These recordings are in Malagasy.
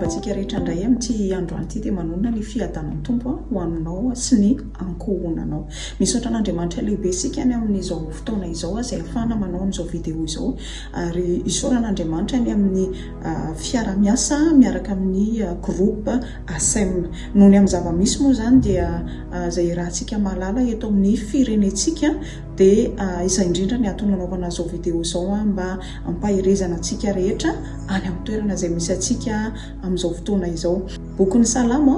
antsika rehetra indray amin'ity androany ity dia manonona ny fiadanan'ny tompo ho aminao sy ny ankohonanao misaotra an'andriamanitra lehibe sika any amin'izao fotoana izao izay afahana manao an'izao video izao ary isaoran'andriamanitra any amin'ny fiara-miasa miaraka amin'ny groupe ASEM. Noho ny amin'ny zava-misy moa izany dia izay iarahantsika mahalala eto amin'ny firenentsika dia izay indrindra ny antony nanaovana izao video izao mba hampaherezana antsika rehetra any amin'ny toerana izay misy antsika amin'izao fotoana izao. Bokin'ny Salamo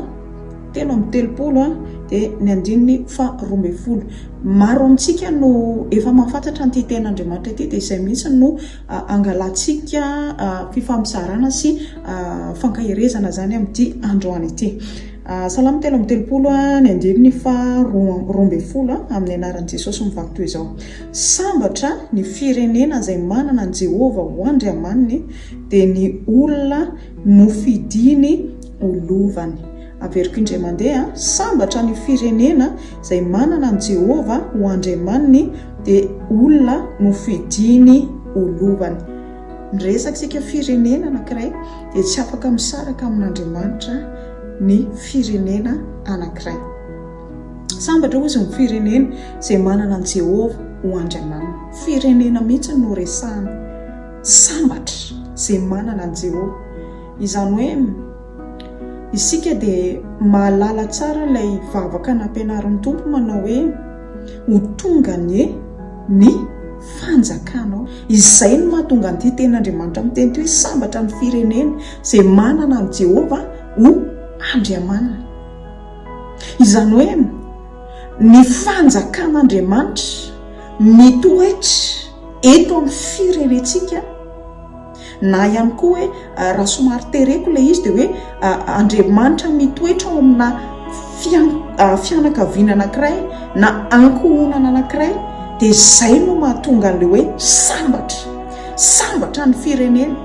telo amby telopolo dia ny andininy faharoa ambin'ny folo. Maro amintsika no efa mahafantatra an'ity tenin'Andriamanitra ity dia izay mihitsy no Angalantsika fifampizarana sy fankaherezana izany amin'ity androany ity. Salamo telo amby telopolo, ny andininy faharoa roa ambin'ny folo, amin'ny anaran'i Jesosy mivaky toy izao, Sambatra ny firenena izay manana an'i Jehovah ho Andriamaniny, dia ny olona nofidiny ho lovany. Averiko indray mandeha, sambatra ny firenena izay manana an'i Jehovah ho Andriamaniny, dia olona nofidiny ho lovany. Miresaka isika firenena anankiray, dia tsy afaka misaraka amin'Andriamanitra ny firenena anankiray. Sambatra, hozy, ny firenena izay manana an'i Jehovah ho Andriamaniny. Firenena mihitsy no resahana. Sambatra izay manana an'i Jehovah. Izany hoe isika dia mahalala tsara ilay vavaka nampianarin'ny Tompo manao hoe, Ho tonga anie ny fanjakanao. Izay no mahatonga an'ity tenin'Andriamanitra miteny ity hoe sambatra ny firenena izay manana an'i Jehovah ho Andriamaniny. Izany hoe ny fanjakan'Andriamanitra mitoetra eto amin'ny firenentsika. Na ihany koa hoe raha somary tereko ilay izy dia hoe Andriamanitra mitoetra ao amina fianakaviana anankiray na ankohonana anankiray dia izay no mahatonga an'ilay hoe sambatra. Sambatra ny firenena.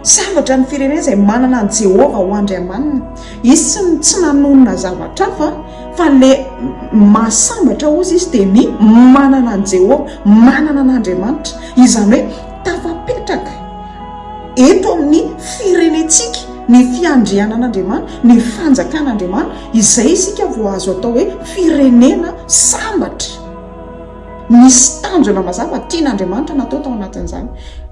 Sambatra ny firenena izay manana an'i Jehovah ho Andriamaniny. Izy tsy nanonona zavatra hafa fa ilay mahasambatra ozy izy dia ny manana an'i Jehovah, manana an'Andriamanitra. Izany hoe Tafapetraka eto amin'ny firenentsika ny fiandrianan'Andriamanitra, ny fanjakan'Andriamanitra, izay isika vao azo atao hoe firenena sambatra. Misy tanjona mazava tian'Andriamanitra natao tao anatin'izany.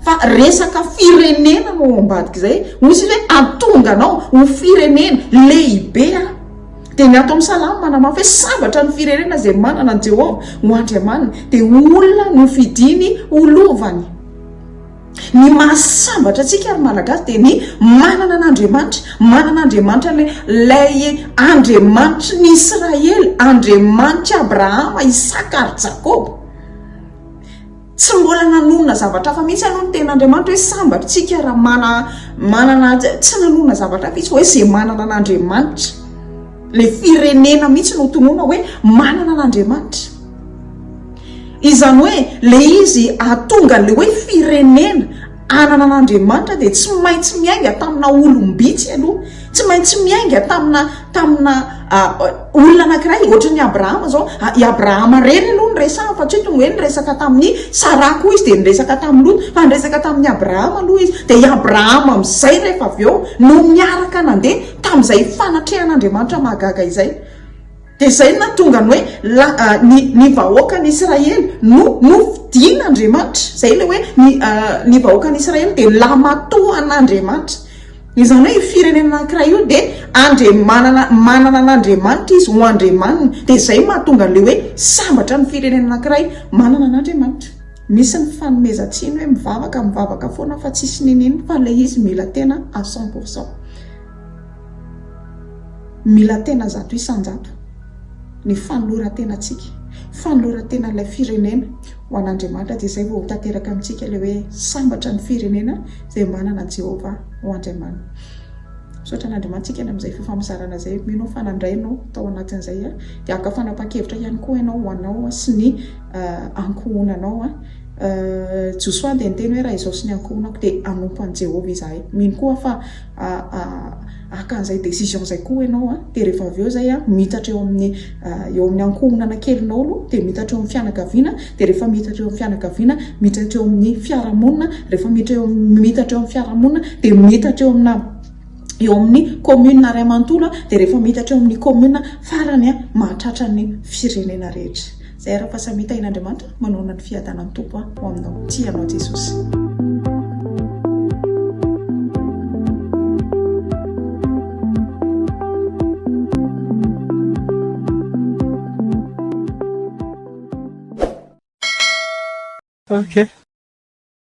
Fa resaka firenena no ao ambadik'izay, hoy isika hoe atonga anao ho firenena lehibe aho. Dia ny ato amin'ny Salamo manamafy hoe sambatra ny firenena izay manana an'i Jehovah ho Andriamaniny, dia ho olona nofidiny ho lovany. Ny mahasambatra antsika, ry Malagasy, dia ny manana an'Andriamanitra, manana Andriamanitra ilay, ilay Andriamanitry ny Israely, Andriamanitr'i Abrahama, Isaka ary Jakoba. Tsy mbola nanonona zavatra hafa mihitsy aloha ny ten'Andriamanitra hoe sambatra isika raha mana manana tsy nanonona zavatra hafa izy fa hoe izay manana an'Andriamanitra le firenena mihitsy no tonona hoe manana an'Andriamanitra izany hoe le izy atonga le hoe firenena Anana an' Andriamanitra dia tsy maintsy miainga tamina olom-bitsy aloha, tsy maintsy miainga tamina tamina olona anankiray, ohatry ny Abrahama zao, i Abrahama reny aloha ny resahany fa tsy hoe tonga hoe niresaka tamin'i Saraha koa izy dia niresaka tamin'i Lota, fa niresaka tamin'i Abrahama aloha izy, dia i Abrahama amin'izay rehefa avy eo no niaraka nandeha tamin'izay fanatrehan' Andriamanitra mahagaga izay. Dia izay no nahatonga ny hoe la, ny, ny vahoakan'Israely no, no fidin'Andriamanitra. Izay ilay hoe ny, ny vahoakan'Israely dia lamatoan'Andriamanitra. Izany hoe io firenena anankiray io dia andriamanana, manana an'Andriamanitra izy ho andriamaniny. Dia izay mahatonga an'ilay hoe sambatra ny firenena anankiray manana an'Andriamanitra. Misy ny fanomezan-tsiny hoe mivavaka, mivavaka foana fa tsisy n'inon'inona fa ilay izy mila tena à cent pour cent. Mila tena zato isan-jato ny fanoloran-tenantsika, fanoloran-tenan'ilay firenena ho an'Andriamanitra, dia izay vao ho tanteraka amintsika ilay hoe sambatra ny firenena izay manana an'i Jehovah ho Andriamaniny. Misaotra an'Andriamanitsika ny amin'izay fifampizarana izay. Mino aho fa nandray ianao tao anatin'izay, dia haka fanapahan-kevitra ihany koa ianao ho anao sy ny ankohonanao. Josoa dia niteny hoe, Raha izaho sy ny ankohonako dia hanompo an'i Jehovah izahay. Mino koa aho fa. haka an'izay décision izay koa ianao an, dia rehefa avy eo izay an, miitatra eo amin'ny eo amin'ny ankohonana kelinao aloha, dia miitatra eo amin'ny fianakaviana, dia rehefa miitatra eo amin'ny fianakaviana, miitatra eo amin'ny fiarahamonina, rehefa miitatra eo miitatra eo amin'ny fiarahamonina, dia miitatra eo amina eo amin'ny commune ray manontolo an, dia rehefa miitatra eo amin'ny commune farany an, mahatratra ny firenena rehetra. Zay arapa samia tahin Andriamanitra manorina ny fiadanan Tompo a ho aminao tia anao Jesosy. Okay.